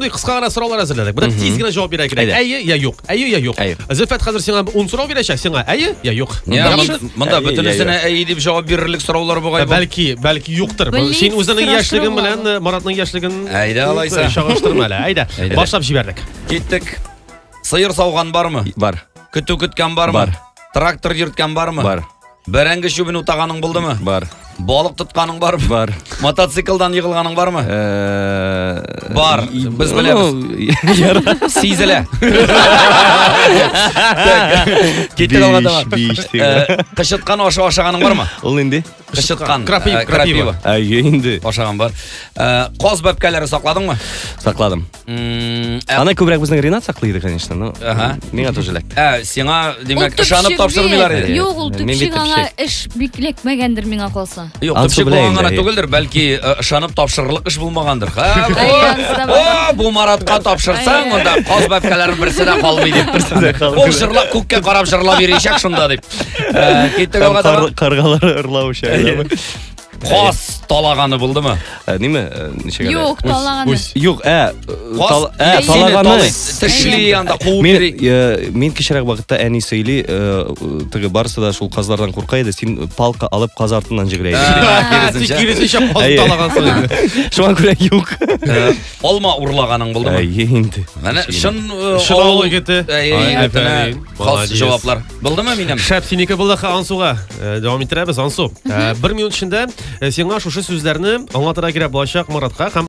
Шундый кыска гына сораулар әзерләдек. Бер тиз генә җавап бирә кирәк. Әйе я юк. Әйе я юк. Зөлфәт хәзер сиңа 10 сорау бирәчәк. Сиңа әйе я юк. Монда бөтенесенә әйе дип җавап бирерлек сораулар бугай. Бәлки, бәлки юктыр. Син үзеңнең яшьлегең белән э, Маратның яшьлеген Әйдә алайса. Чагыштырма әле. Әйдә. Башлап җибәрдек. Киттек. Сыер сауган бармы? Бар. Көтү көткән бармы? Бар. Трактор йөрткән бармы? Бар. Бәрәңге чүбен утаганың булдымы? Бар. Балык тотканың бармы? Бар. Мотоциклдан егылганың бармы? Э, Бар. Без беләбез. Ну, Сизелә. Киттек алга таба. Биш, биш. Э, Кычыткан ашы ашаганың бармы? Ул нинди? Кычыткан. Крапива, э, крапива. Әйе инде. Ашаган бар. Э, Каз бәпкәләре сакладыңмы? Сакладым. М, ә- Аны күбрәк безнең Ренат саклый иде, конечно, но Ага. миңа тоже эләкте. Ә, сиңа, Ул димәк, төпчек ышанып бит. тапшырмыйлар иде. Юк, ул Мин бит төпчек аңа төпчек. эш бик эләкмәгәндер миңа калса. Юк, Ансы төпчек белән булган гына инде. түгелдер, бәлки э, ышанып тапшырырлык эш булмагандыр. Ха, Әй, о, ансы да бар. о, бу Маратка тапшырсаң, Әй. монда каз бәбкәләрен берсе дә калмый дип. Берсе дә калмый. Ул җырлап күккә карап җырлап йөричәк шунда дип. Э, Киттек Һәм алга кар- таба. Каргалар ырлау шәйләме? Каз талаганы булдымы? Ә, Ниме? Ә, Ничек әле? Юк, талаганы. Үз. Юк, ә, Каз тал- ә, әйе, талаганы. талый, Тешли анда куып Мин, йөри. э, мин кечерәк вакытта әни сөйли, э, теге барысы да шул казлардан курка иде, син палка алып каз артыннан җигрә иде. Ә, Син киресенчә каз Әйе. талагансың инде. Шуңа күрә юк. Ә, Алма урлаганың булдымы? Әйе инде. Менә чын э, Шын авыл авыл- егете. Әйе, Ай, егетенә. әфәрин. Хас җаваплар. Булдымы минем? Шәп синеке булды Ансуга. Э, дәвам иттерәбез Ансу. Э, бер минут эчендә э, сиңа шушы сүзләрне аңлатырга кирәк булачак Маратка һәм